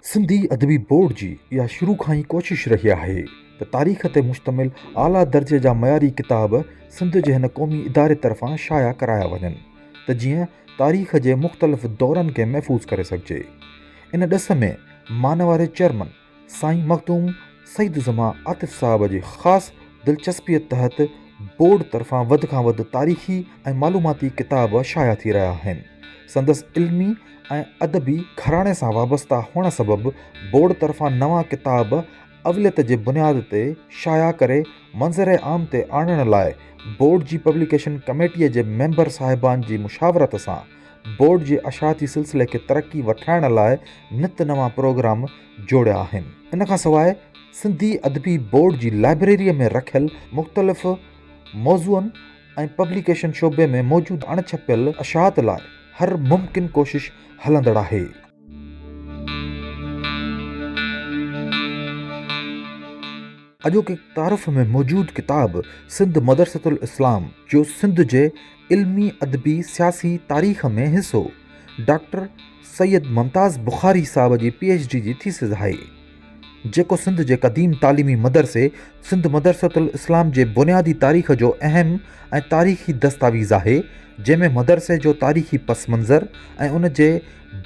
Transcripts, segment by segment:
سنڌي ادبي بورڊ جي اها شروع کان ئي ڪوشش رهي آهي ته تاريخ تي مشتمل اعليٰ درجي جا معياري ڪتاب سنڌ جي هن قومي اداري طرفان شايع ڪرايا وڃن ته جيئن تاريخ جي مختلف دورن کي محفوظ ڪري سگهجي. ان ڏس ۾ مانواري چيئرمن سائين مخدوم سعيد الزمان عاطف صاحب جي خاص دلچسپيء تحت بورڊ طرفان وڌ کان وڌ تاريخي ۽ معلوماتي ڪتاب شايع ٿي رهيا آهن. سندس علمي ۽ ادبي گهراڻي سان وابسته هئڻ سبب بورڊ طرفان نوان ڪتاب اوليت جي بنياد تي شايع ڪري منظر عام تي آڻڻ لاء بورڊ جي پبليڪيشن ڪميٽيء جي ميمبر صاحبان جي مشاورت سان بورڊ جي اشاعتي سلسلي کي ترقي وٺرائڻ لاء نت نوان پروگرام جوڙيا آهن. ان کان سواء سنڌي ادبي بورڊ جي لائبريريء ۾ رکيل مختلف موضوعن ۽ پبليڪيشن شعبي ۾ موجود اڻ ڇپيل اشاعت لاء هر ممڪن ڪوشش هلندڙ آهي. اڄوڪي تعارف ۾ موجود ڪتاب سنڌ مدرسة الاسلام جو سنڌ جي علمي، ادبي، سياسي تاريخ ۾ حصو ڊاڪٽر سيد ممتاز بخاري صاحب جي پي ايڇ ڊي جي ٿيسز آهي. جيڪو سنڌ جي قديم تعليمي مدرسي سنڌ مدرسة الاسلام جي بنيادي تاريخ جو اهم ۽ تاريخي دستاويز آهي، جنهن ۾ مدرسي جو تاريخي پس منظر ۽ ان جي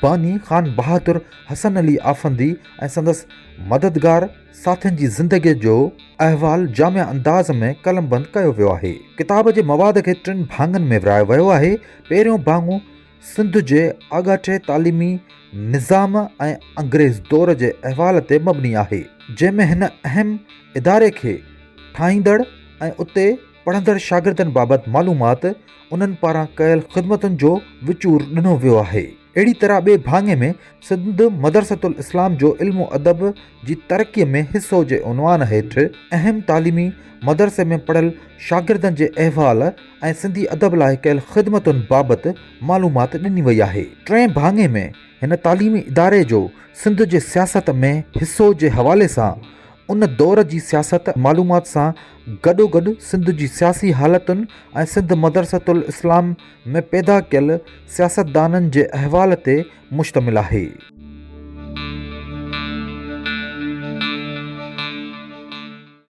باني خان بهادر حسن علي آفندي ۽ سندس مددگار ساٿين جي زندگيء جو احوال جامع انداز ۾ قلمبند ڪيو ويو آهي. ڪتاب جي مواد کي ٽن ڀاڱن ۾ ورهايو ويو آهي، پهريون ڀاڱو، سنڌ جي آڳاٽي تعليمي نظام ۽ انگريز دور جي احوال تي مبني آهي، جنهن ۾ هن اهم اداري کي ٺاهيندڙ ۽ اتي پڙهندڙ شاگردن بابت معلومات انهن پاران ڪيل خدمتن جو وچور ڏنو ويو آهي. اهڙي طرح ٻئي ڀاڱي ۾ سنڌ مدرسة الاسلام جو علم و ادب جي ترقيء ۾ حصو جي عنوان هيٺ اهم تعليمي مدرسي ۾ پڙهيل شاگردن جي احوال ۽ ۽ سنڌي ادب لاء ڪيل خدمتن بابت معلومات ڏني وئي آهي. ٽئين ڀاڱي ۾ هن تعليمي اداري جو سنڌ جي سياست ۾ حصو جي حوالي سان ان دور جي سياست ۽ معلومات سان گڏوگڏ سنڌ جي سياسي حالتن ۽ سنڌ مدرسة الاسلام ۾ پيدا ڪيل سياستدانن جي احوال تي مشتمل آهي.